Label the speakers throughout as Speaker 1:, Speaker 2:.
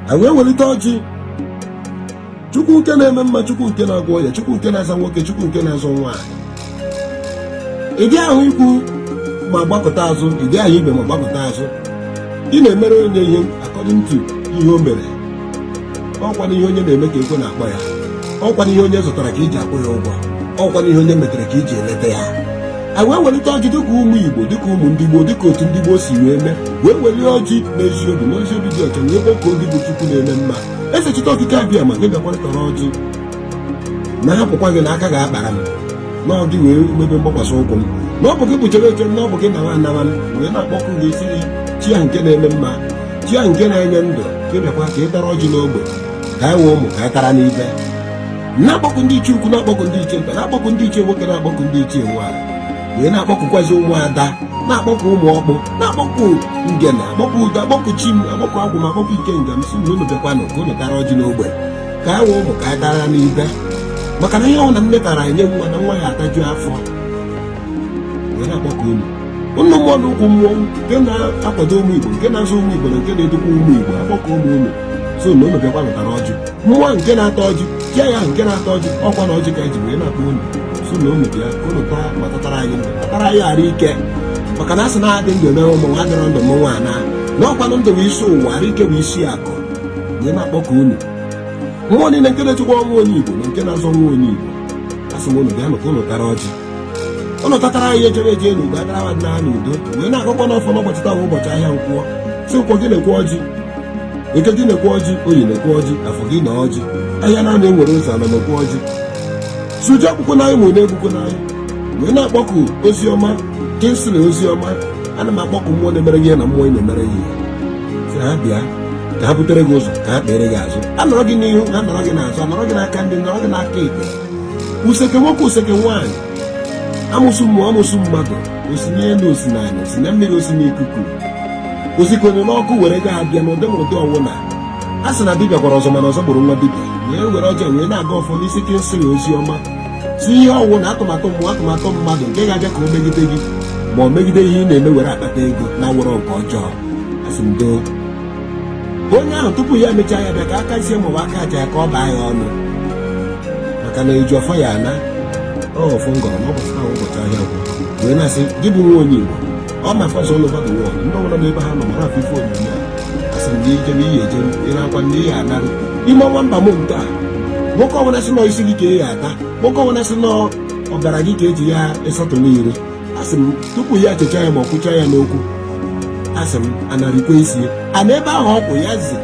Speaker 1: a wee welite ọjị chukwu nke na-eme mma chukwu nke na-agwọ ọya chukwu nke na-azọ nwoke chukwu nke na-azọ nwaanyị ị dị ahụ ikwu ma gbakụta azụ ị dị ahụ ibe ma gbakụta azụ ị na-emere onye ihe according to ihe o mere ọkwana ihe onye na-eme ka ekwe na-akpọ ya ọkwana ihe onye zụtara ka eji akwụ ya ụgwọ ọkwana ihe onye metere ka eji elota ya anyị wee welite ọjị dịka ụmụ igbo dịka ụmụ ndị gboo dịka otu ndị gboo si wee mee wee welie ọjị n'ezi obi na ezi obi dị ọcha wee kpọkuo gị bụ chukwu na-eme mma eze chite okike abịama ka ị bịakwa tara ọjị na a hapụkwa gị na aka ga-akpara m na ọ gị bụ ebe mgbakwasị ụkwụ m na ọ bụ gị bụ ejebe eje m na ọ bụ gị nawa anawa m wee na-akpọkụ gị sị gị chi ahụ nke na-eme mma chi ahụ nke na-enye ndụ gị bịakwa ka ị tara ọjị n'ogbe ka anyị bụ ụmụ ka anyị tara n'ibe na-akpọkụ ndị ichie ukwu na-akpọkụ ndị ichie nta na-akpọkụ ndị ichie nwoke na-akpọkụ ndị ichie nwaanyị wee na-akpọkụkwazi ụmụada na-akpọkụ ụmụ ọkpụ na-akpọkụ ngene akpọkụ udo akpọkụ chi m akpọkụ agwụ m akpọkụ ikenga m si na unu bịakwanụ ka unu tara ọjị n'ogbe ka anyị bụ ụmụ ka anyị tara n'ibe maka na ihe ọbụla nne tara enye nwa na nwa ya ataju afọ wee na-akpọkụ unu ọnụ mmụọ na okwu mmụọ nke na-akwado ụmụ igbo nke na-azụ ụmụ igbo na nke na-edokwa ụmụ igbo akpọkuo m unu sị na unu bịakwanụ tara ọjị mmụọ nke na-ata ọjị chi ya nke na-ata ọjị ọkwa na ọjị ka eji wee na-akpọ unu sị na unu bịa ka unu taa ma tatara anyị ndụ tatara anyị arụ ike maka na asị na a dị ndụ eme ụmụ nwa adịrọ ndụ mmụnwa ana na ọkwanụ ndụ bụ isi ụwa arụ ike bụ isi akụ wee na-akpọku unu mmụọ niile nke na-echekwa nwa onye igbo na nke na-azọ nwa onye igbo asị m unu bịa nụ ka unu tara ọjị ụnụ tatara anyị ejebe eje n'udo atara mmadụ na n'udo wee na-agọkwa ọfọ n'ụbọchị taa bụ ụbọchị ahịa nkwọ si nkwọ gị nekwe ọjị eke gị nekwe ọjị oye nekwe ọjị afọ gị nee ọjị ahịa naanọ nwere ụzọ anọ nekwe ọjị suju akwụkwọ n'anyị nwere na-egbukwo n'anyị wee na-akpọku ozioma kingsley ozioma ana m akpọku mmụọ na-emere ihe na mmụọ na-emere ihe si ha bịa ka ha butere gị ụzọ ka ha kpere gị azụ ha nọrọ gị n'ihu ha nọrọ gị n'azụ ha nọrọ gị n'aka nri nọrọ gị n'aka ekpe useke nwoke useke nwaanyị amụsụ mmụọ amụsụ mmadụ o si n'elu o si n'ala o si na mmiri o si n'ikuku o sikwanụ n'ọkụ were ga abịa n'ụdị ma ụdị ọwụna a sị na dibịa gwọrọ ọzọ mana ọzọ gburu nwa dibịa wee were ọjị a wee na-agọ ọfọ n'isi kingsley ozioma si ihe ọwụna atụmatụ mmụọ atụmatụ mmadụ nke ga-abịa ka o megide gị ma o megide ihe ị na-eme were akpata ego na ọ wụrụ nke ọjọọ asị m doo onye ahụ tupu ya emechaa ya bịa ka aka isi maọbụ aka aja ya ka ọ baa ya ọnụ maka na eji ọfọ ya ana ọfọ m gọrọ n'ụbọchị taa ụbọchị ahịa nkwọ wee na-asị gị bụ nwa onye Igbo ọ ma fọsọ all over the world ndị ọbụla n'ebe ha nọ were afụ ife onyonyo a asị m gị ije na ị ya-eje ịra akwa ndị ihe anarụ ime ọnwa ember month nke a nwoke ọbụla sị na ọ isi gị ka ọ ya-ata nwoke ọbụla sị na ọ ọbara gị ka eji ya ịsatụ n'ire asị m tupu ya checha ya ma ọ kwucha ya n'okwu asị m anarịkwa isi ya ana ebe ahụ ọ kwụ ya zi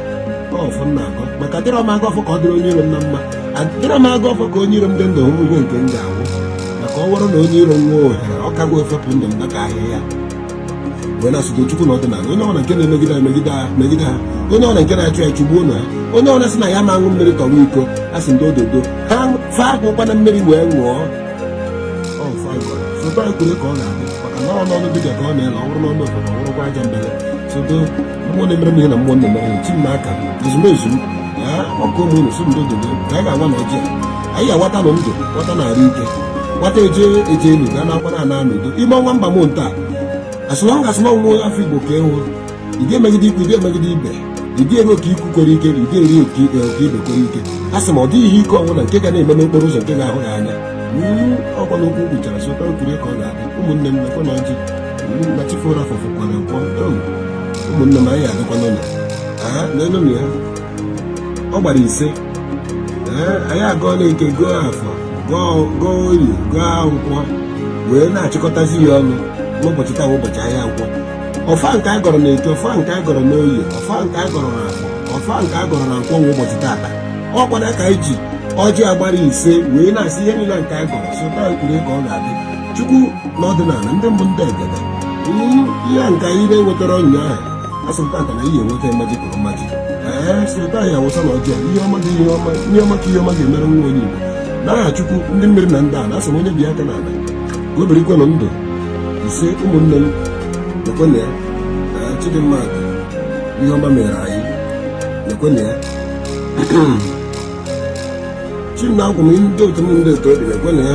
Speaker 1: ọfọ m na-agọ maka adịrọ m agọ ọfọ ka ọ dịrị onye iro m na mma adịrọ m agọ ọfọ ka onye iro m dị ndụ hụ ihe nke m ga-anwụ maka ọ bụrụ na onye iro m nwee ohere ọ kago efepụ ndụ m maka ahịhịa wee na asụgo chukwu na ọdịnala onye ọbụla nke na-emegide ha megide ha megide ha onye ọbụla nke na-achụ ya chụgbuo na ha onye ọbụla sị na anyị ama aṅụ mmiri tọwa iko a sị ndị ododo ha fa ekukwana mmiri wee ṅụọ sọ otu e kwuru ka ọ ga-adị maka na ọ n'ọnụ dibịa ka ọ na-ele ọ bụrụ n'ọnụ ogbodu ọ bụrụkwa aja mbele sọ otu mmụọ na-emere m ihe na mmụọ na-emere m chi m n'aka ezumezu m ya ọkụ ụmụ unu si ndo dodo ka anyị ga-agwa na ọjị anyị awata na ndụ wata na arụ ike wata eje eje elu ga na-akwara ana n'udo ime ọnwa mba m nta asụlọ ngasị na nwa afọ igbo ka ị wụ ị ga-emegide ikwu ị ga-emegide ibe ị ga-eri oke ikwu kwere ike ị ga-eri oke ibe kwere ike a sị ma ọ dịghị ihe ike ọnwụ na nke ga na-eme n'okporo ụzọ nke ga-ahụ ya anya ọkwa n'okwu kpuchara sọ otu e kwuru ka ọ ga-adị ụmụnne m nekwanụ ọjị na chi foro afọ fokwara nkwọ ụmụnne m anyị adịkwa n'ụlọ aha n'elu ya ọ gbara ise anyị agọọ na eke gọọ afọ gọọ oye gọọ nkwọ wee na-achịkọtazi ya ọnụ n'ụbọchị taa ụbọchị ahịa nkwọ ọfọ nke a gọrọ n'eke ọfọ nke a gọrọ n'oye ọfọ nke a gọrọ n'afọ ọfọ nke a gọrọ na nkwọ nwa ụbọchị taata ọ kwa ya ka anyị ji ọjị a gbara ise wee na-asị ihe niile nke a gọrọ sọ otu e kwuru ka ọ ga-adị chukwu na ọdịnala ndị mbụ ndị egede Mm, ihe a nke anyị na-enwetarọ ụnyaahụ asị m taata na anyị enweta mmaji kwuru mmaji ee sota ya awụsa na ọjọọ ihe ọma dị ihe ọma ihe ọma ka ihe ọma ga-emere nwa onye igbo n'aha chukwu ndị mmiri na ndị ana asị m onye bi aka n'ala ka o birikwenụ ndụ ise ụmụnne m lekwenụ ya na chi dị mma ihe ọma mere anyị lekwenụ ya chi m na agwụ m ndị otu m ndị otu obi lekwenụ ya